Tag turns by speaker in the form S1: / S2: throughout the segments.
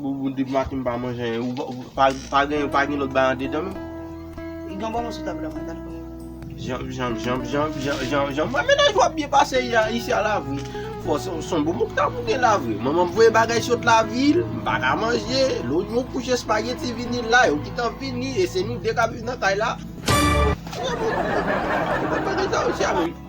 S1: Boubou depi maten m pa manje anyen pa gen pa gen lòt bagay andedan menm? Li gen
S2: yon bon moso tab la mwen gad pou
S1: mwen. Jan jan jan jan jan mwen mennaj wap byen pase isi a la vre fò son boubou ki ta bouke la vre manmanm voye bagay sot la vil m pa ka manje lonyon kouche espageti vini la yo kitan vini e se nou 2 kap viv nan kay la.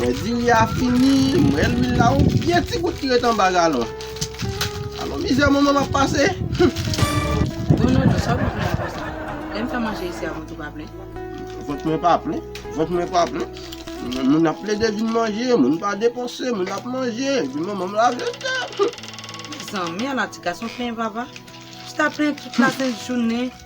S1: Mwen di li a fini, m wè lwil la on pye ti gout ki ret anba galon. Alon mizè moman m ap pase.
S2: Don Dodo, sa w vin fè la konsa? Lè m fè manje isi a vant ou pa plen? Vant mwen pa
S1: plen, vant mwen pa plen. Moun ap plede vin manje, moun pa depanse, moun ap manje, epi manman m lave tè. Mezanmi,
S2: ala ti gason plenyen vava. Chita plenyen tout lasent jounen.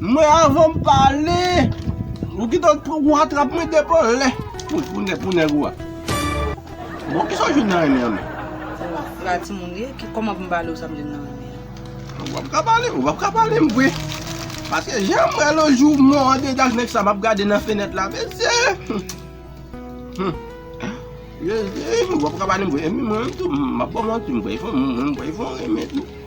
S1: Mwen avan m pale Ou kite l pran ou atrap mwen depo lè Pou nèg ou a Bon kisa w jwenn nan renmen an menm Sa timoun ye Kòman pou m pale w sa m jwenn nan renmen an Ou
S2: pap
S1: ka pale Ou pap ka pale m vre Paske jan m wè l yon jou mwen an dedan ak nèg sa m ap gade nan fenèt la mesye Humm Ou pap ka pale m vre Epi mwen menm tou m pap ba w manti m kwè m kwè l fon renmen tou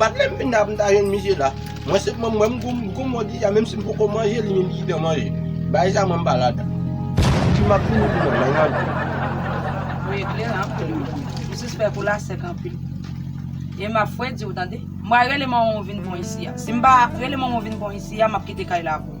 S1: Bat lèm vin la mta jwenn misye la. Mwen sèlman m wè m gou mò deja menm si m poko manje li menm li kitem manje. Bagay sa mwen m pa ladan. Pouki map fini pou mwen mwen manje.
S2: Ou eklere anpil wi. M sispèk ou la sèk anpil. E map fwe diw tande. M pral rele manman w vin pwan isi a. Si m pa rele manman w vin pwan isi a map kite kay la avè w.